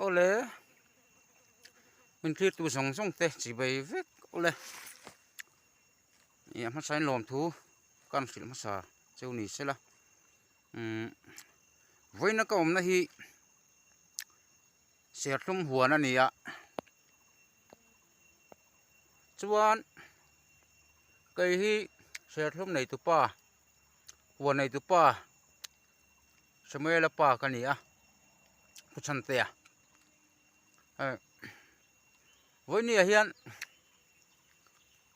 Awle min thlirtu zawng zawng te chi bai vek awle ih a hmasa in lawmthu ka rawn hrilh hmasa cheu ni se la umm vawiina ka awmna hi serthlum huan a ni a chuan kei hi serthlum nei tupa huan nei tupa. Samuela pa ka ni a, Khuchantea. Eh, Voinia hian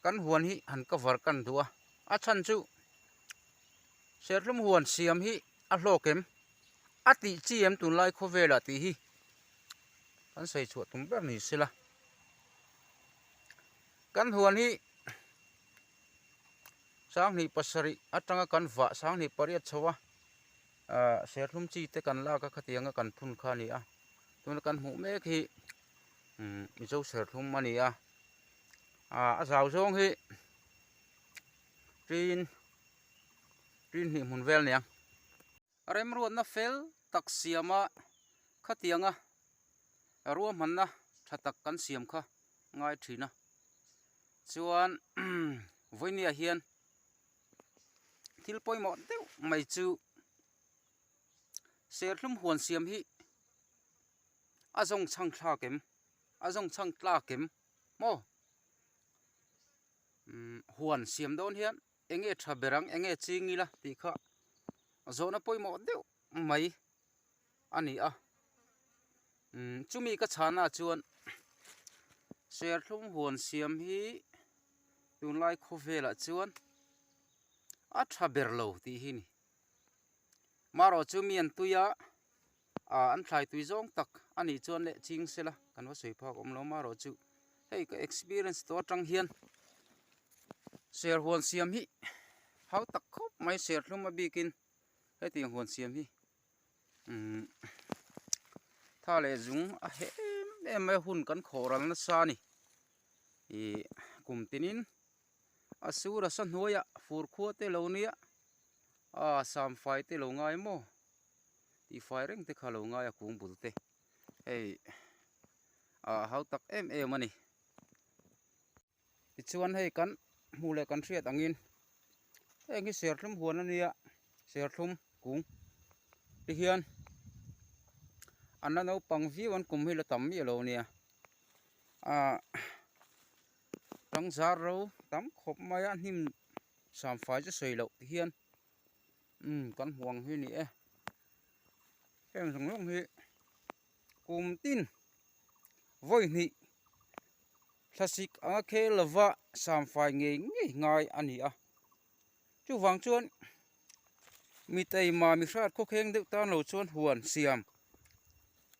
kan huan hi han ka var kan duh a, a chhan chu Serthlum huan siam hi a hlawk em, a tih chi em tunlai khawvelah tih hi kan sawi chhuah tum ber ni sela. Kan huan hi. Sanghnih pasarih atanga kan vah sanghnih pariat chho a, ahh serthlum chi te kan lak a khatiang a kan phun kha a ni a, tuna kan hmuh mek hi umm Mizo serthlum a ni a, ahh a zau zawng hi tiin tiin hnih hmun vel a ni ang. Remruatna fel tak siama khatianga ruahmanna tha tak kan siam kha ngai thin a. Chuan Vawiniah hian thil pawimawh deuh mai chu serthlum huan siam hi a zawng chhang thlak em, a zawng chhang tlak em maw? Huan siam dawn hian. Enge tha ber ang, enge ching ila tih kha zawhna pawimawh deuh mai a ni a. Umm chumi ka chhahna ah chuan Serthlum huan siam hi tunlai khawvel ah chuan a tha ber lo tih hi a ni. Marawh chu mi an tui a. Aah an thlai tui zawng tak a nih chuan le ching sela kan va sawi phak awm lo mah rawh chu hei ka experience tawh atang hian ser huan siam hi hau tak khawp mai serthlum a bikin heti ang huan siam hi umm tha leh zung a hem em mai a hun kan khawh ral nasa a ni ihh kum tinin. A sura sa hnuaia fur khua te lo nia, aa sam fai te lo ngai maw? Tih fai reng te kha lo ngai a kung bul te. Hei aa hau tak em em a ni. Tichuan hei kan hmuh leh kan hriat angin heng hi serthlum huan a nia, serthlum kung te hian an la naupang viau an kum hi la tam miah lo nia. Aa. Tlangzar ro tam khawp mai a hnim samfai chu sawi loh tih hian umm kan hmu ang hi ni e. Heng zawng zawng hi kum tin vawihnih thlasik anga khel lova samfai ngei ngei ngai a ni a. Chuvang chuan mi taima mi hriat khawkheng deuh tan lo chuan huan siam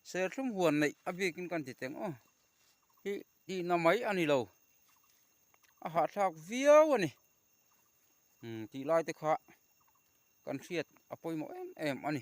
serthlum huan neih a bikin kan ti teng aw hi-- Tihna mai a ni lo, a hahthlak viau a ni. Umm tihlai te kha kan hriat a pawimawh em em a ni.